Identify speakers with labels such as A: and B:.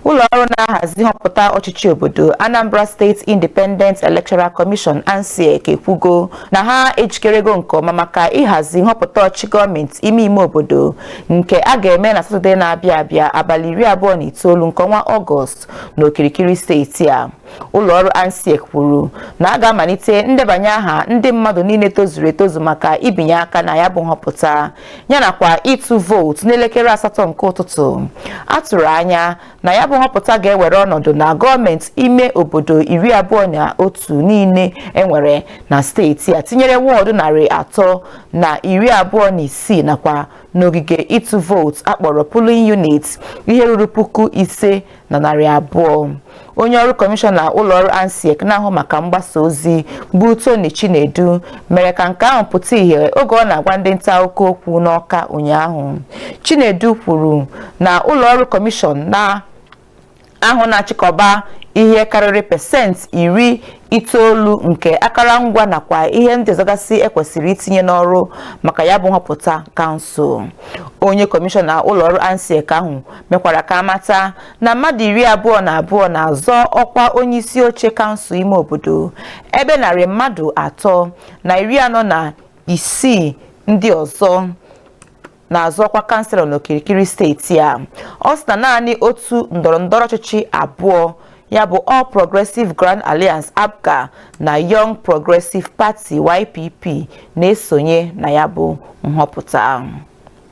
A: Ụlọ ọrụ na-ahazi nhọpụta ọchịchị obodo Anambra State Independent Electoral Commission ANSEC ekwugo na ha ejikerego nke ọma maka ịhazi nhọpụta ọchịchị gọọmenti ime ime obodo nke a ga-eme na Satọde na-abịa abịa abalị iri abụọ na itoolu nke ọnwa Ọgọst n'okirikiri steeti a. Ụlọ ọrụ ANSEC kwuru na a ga-amalite ndebanye aha ndị mmadụ niile tozuru etozu maka ibinye aka na ya bụ nhọpụta yanakwa ịtụ vootu n'elekere asatọ nke ụtụtụ a tụrụ anya na ya bụ nhọpụta ga-ewere ọnọdụ na gọọmenti ime obodo iri abụọ na otu niile enwere na steeti a tinyere wọọdụ narị atọ na iri abụọ na isii nakwa n'ogige ịtụ vootu akpọrọ polling unit ihe ruru puku ise na narị abụọ onye ọrụ kọmishọna ụlọọrụ ANSEC na-ahụ maka mgbasa ozi bụ Tony Chinedu mere ka nke ahụ pụta ìhè oge ọ na-agwa ndị nta akụkọ okwu n'Ọka ụnyaahụ Chinedu kwuru na ụlọọrụ kọmishọn ahụ na-achịkọba ihe karịrị pasentị iri itoolu nke akara ngwa nakwa ihe ndị ọzọgasị ekwesịrị itinye n'ọrụ maka ya bụ nhọpụta kansụl onye kọmishọna ụlọọrụ ANSEC ahụ mekwara ka amata na mmadụ iri abụọ na abụọ na-azọ ọkwa onye isi oche kansụl ime obodo ebe narị mmadụ atọ na iri anọ na isii ndị ọzọ na-azọ ọkwa kanselọ n'okirikiri steeti a ọ sị na naanị otu ndọrọ ndọrọ ọchịchị abụọ ya bụ All Progressive Grand Alliance APGA na Young Progressive Party YPP na-esonye na ya bụ nhọpụta